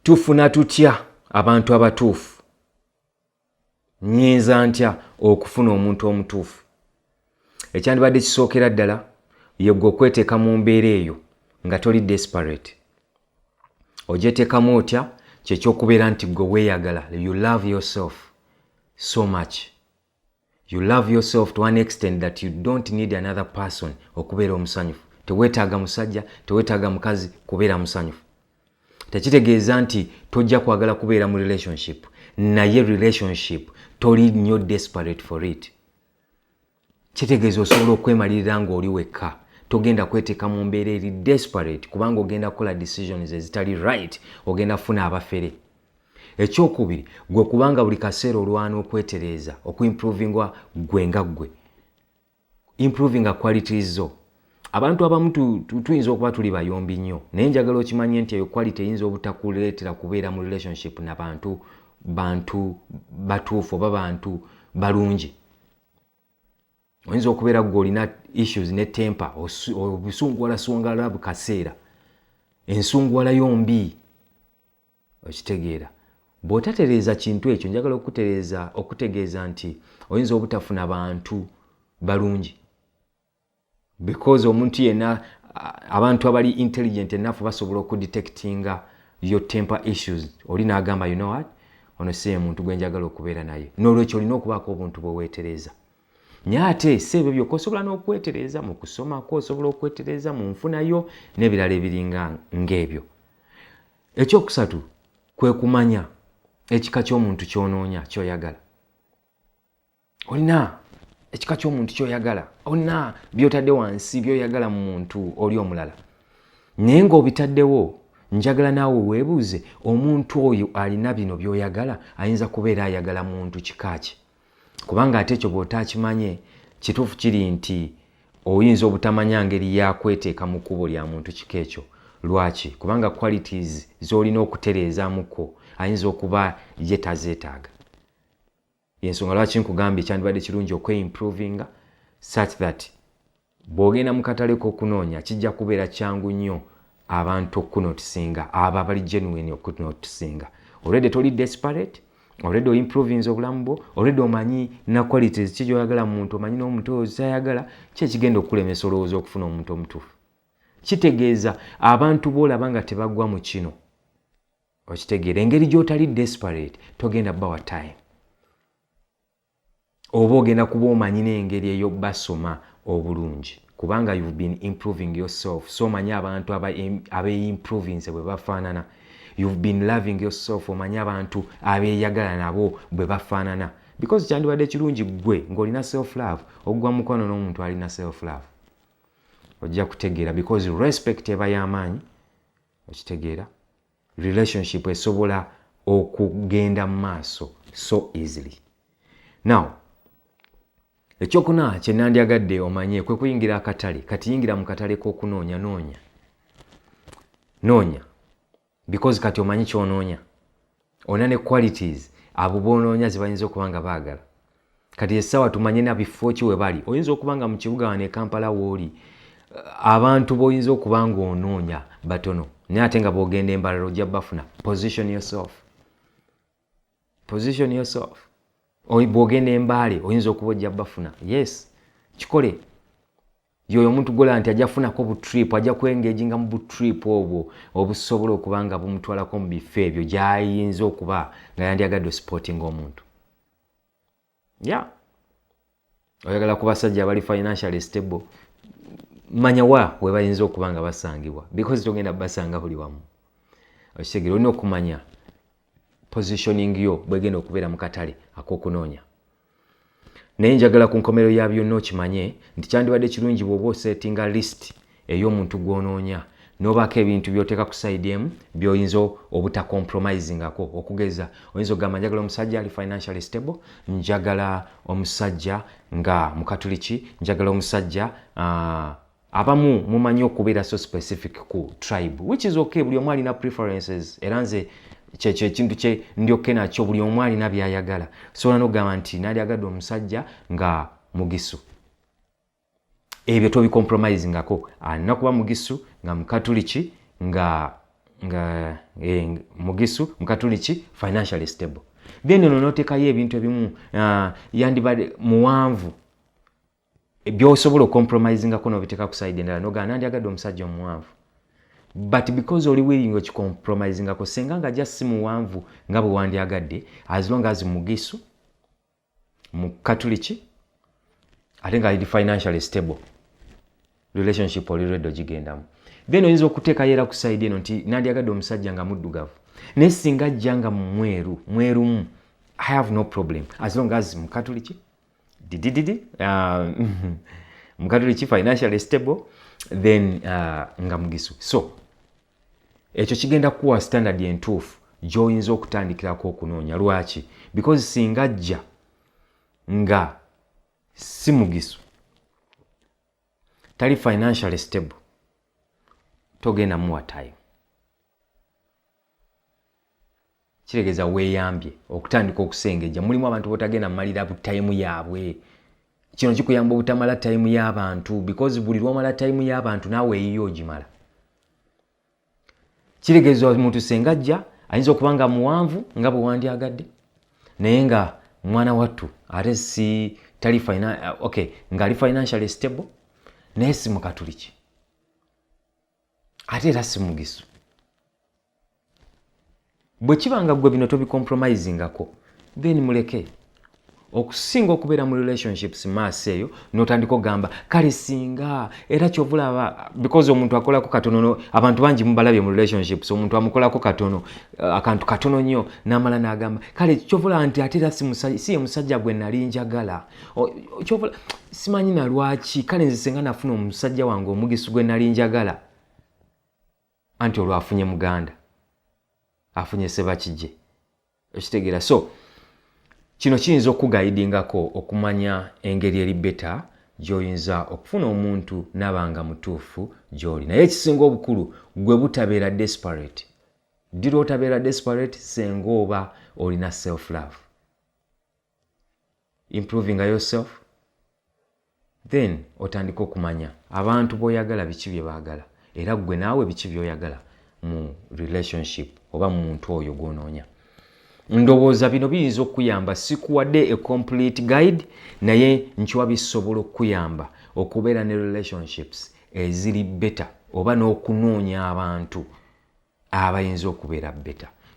tufuna tutya abantu abatuufu nyinza ntya okufuna omuntu omutuufu ekyandibadde kisookera ddala yegwe okweteeka mu mbeera eyo nga toli desperate ogyetekamu otya kyekyokubeera nti gwe weeyagala you love yourself so much You love yourself to an extent that you don't need another person okubeera omusanyufu. Teweetaaga musajja, teweetaaga mukazi kubeera musanyufu. Tekitegeeza nti tojja kwagala kubeera mu relationship, naye relationship toli nnyo desperate for it. Kitegeeza osobola okwemalirira ng'oli wekka. Togenda kweteeka mu mbeera eri desperate kubanga ogenda kukola decisions ezitali right, ogenda kufuna abafere. Ekyokubiri, gwe kuba nga buli kaseera olwana okwetereeza, okuimprovinga gwe nga gwe, improvinga qualities zo. Abantu abamu tuyinza okuba tuli bayombi nnyo, naye njagala okimanye nti eyo quality eyinza obutakuleetera kubeera mu relationship na bantu bantu batuufu oba bantu balungi. Oyinza okubeera gwe olina issues ne temper, obusunguwala sunguwala bu kaseera, ensunguwala yo mbi. Okitegeera? Bw'otatereeza kintu ekyo, njagala okukutereeza, okukutegeeza nti oyinza obutafuna bantu balungi. Because omuntu yenna, abantu abali intelligent enough basobola okudetectinga your temper issues. Oli n'agamba, you know what? Ono si ye muntu gwe njagala okubeera naye. N'olwekyo olina okubaako obuntu bwe weetereeza. Naye ate si ebyo byokka osobola n'okwetereeza mu kusoma kwo, osobola okwetereeza mu nfuna yo, n'ebirala ebiringa ng'ebyo. ekyokusatu kwe kumanya ekika ky'omuntu ky'onoonya ky'oyagala olina ekika ky'omuntu ky'oyagala olina by'otadde wansi by'oyagala mu muntu oli omulala naye ng'obitaddewo njagala naawe weebuuze omuntu oyo alina bino by'oyagala ayinza kubeera ayagala muntu kika kye kubanga ate ekyo bw'otaakimanye kituufu kiri nti oyinza obutamanya ngeri yakweteeka mu kkubo lya muntu kika ekyo lwaki kubanga qualities z'olina okutereezamuko ayinza okuba ye tazeetaaga yensonga lwaki nkugambye kyandibadde kirungi okweimprovinga such that Bw'ogenda mu katale k'okunoonya kijja kubeera kyangu nnyo abantu okukunotisinga, abo abali genuine okukunotisinga. Already toli desperate, already oimprovinze obulamu bwo, already omanyi na qualities ki gy'oyagala mu muntu, omanyi n'omuntu oyo ky'ayagala, ki ekigenda okukulemesa olowooza okufuna omuntu omutuufu. Kitegeeza abantu b'olaba nga tebagwa mu kino, okitegeera engeri gy'otali desperate togenda bawa time. Oba ogenda kuba omanyi nengeri eyo basoma obulungi kubanga you've been improving yourself so omanyi abantu abeyimprovinze bwebafanana you've been loving yourself omanyi abantu abeyagala nabo bwebafanana because kyandibadde kirungi gwe ngolina self love ogwa mukwano n'omuntu alina self love ojja kutegeera because respect eba y'amaanyi okitegeera relationship esobola okugenda mu maaso so easily now ekyokuna kye nandyagadde omanye kwe kuyingira akatale kati yingira mu katale k'okunoonya noonya noonya because kati omanyi kyonoonya olina ne qualities abo bonoonya zebayinza okuba nga baagala kati essaawa tumanye na bifo ki we bali oyinza okuba nga mu kibuga wano e kampala wooli eh, abantu boyinza okuba nga onoonya batono naye ate nga bwogenda embalala ojja bafuna position yourself position yourself bwogenda embaale oyinza okuba ojja bafuna yes kikole yoyo omuntu gola nti ajja kufunako butrip ajja kuengaginga mu butrip obwo obusobola okuba nga bumutwalako mu bifo ebyo gyayinza okuba nga yandyagadde osupportinga omuntu ya yeah. oyagala ku basajja abali financially stable manya wa webayinza okuba nga basangibwa because togenda basanga buli wamu okitegere olina okumanya positioning yo bwegenda okubeera mu katale akokunoonya naye njagala ku nkomero ya byonna okimanye nti kyandibadde kirungi bwoba osetinga list ey'omuntu gw'onoonya nobaako ebintu byoteeka ku side emu byoyinza obutacompromisingako okugeza oyinza okugamba njagala omusajja ali financially stable njagala omusajja nga mukatuliki njagala omusajja uh, abamu mumanyi okubeera so specific ku tribe which is okay buli omu alina preferences era nze kyekyo ekintu kye ndyokke nakyo buli omu alina byayagala sobola nokugamba nti nalyagadde omusajja nga mugisu ebyo tobicompromise ngako alina ah, kuba mugisu nga mukatuliki nga nga eh, mugisu mukatuliki financially stable then ono notekayo ebintu ebimu uh, yandibade muwanvu byosobola ocompromisingako nobiteka ku side endala nogaa nandyagadde omusajja omuwanvu but because oli willing okicompromisingako senga nga just si muwanvu nga bwewandyagadde as long as mugisu mu katuliki ate nga ali financially stable relationship oli redo gigendamu then oyinza okuteekayo era ku saidi eno nti nandyagadde omusajja nga muddugavu naye singa ajja nga mumweru mwerumu i have no problem as long as mukatuliki didididi uh, mukatuliki financially stable then uh, nga mugisu so ekyo kigenda kukuwa standard entuufu gy'oyinza okutandikirako okunoonya lwaki because singa ajja nga si mugisu tali financially stable togenda muwa time kitegeza weyambye okutandika okusengejja mulimu abantu botagenda mumalira bu time yaabwe kino kikuyamba obutamala time y'abantu because buli lwomala time y'abantu naawe eyiyo ogimala kitegeza omuntu sengajja ayinza okuba nga muwanvu nga bwewandyagadde naye nga mwana wattu ate si tali uh, okay ngaali financially stable naye si mukatuliki ate era si mugisu bwe kiba nga gwe bino tobicompromisingako then muleke okusinga okubeera mu relationships maaso eyo notandika okugamba kale singa era kyovulaba because omuntu akolako katono abantu bangi mubalabye mu relationships omuntu amukolako katono uh, akantu katono nnyo namala nagamba kale kyovulaba nti ate era si ye musajja gwe nali njagala simanyi nalwaki kale nze senga nafuna omusajja wange omugisi gwe nali njagala anti olwo afunye muganda afunye sebakije okitegeera so kino kiyinza okukugayidingako okumanya engeri eri beta gyoyinza okufuna omuntu naba nga mutuufu gyoli naye ekisinga obukulu gwe butabeera desperate dira otabeera desperate senga oba olina self love improving yourself then otandika okumanya abantu boyagala biki bye baagala era ggwe naawe biki byoyagala mu relationship oba mu muntu oyo gwonoonya ndowooza bino biyinza okukuyamba sikuwadde a complete guide naye nkiwa bisobola okukuyamba okubeera ne relationships eziri beta oba n'okunoonya abantu abayinza okubeera beta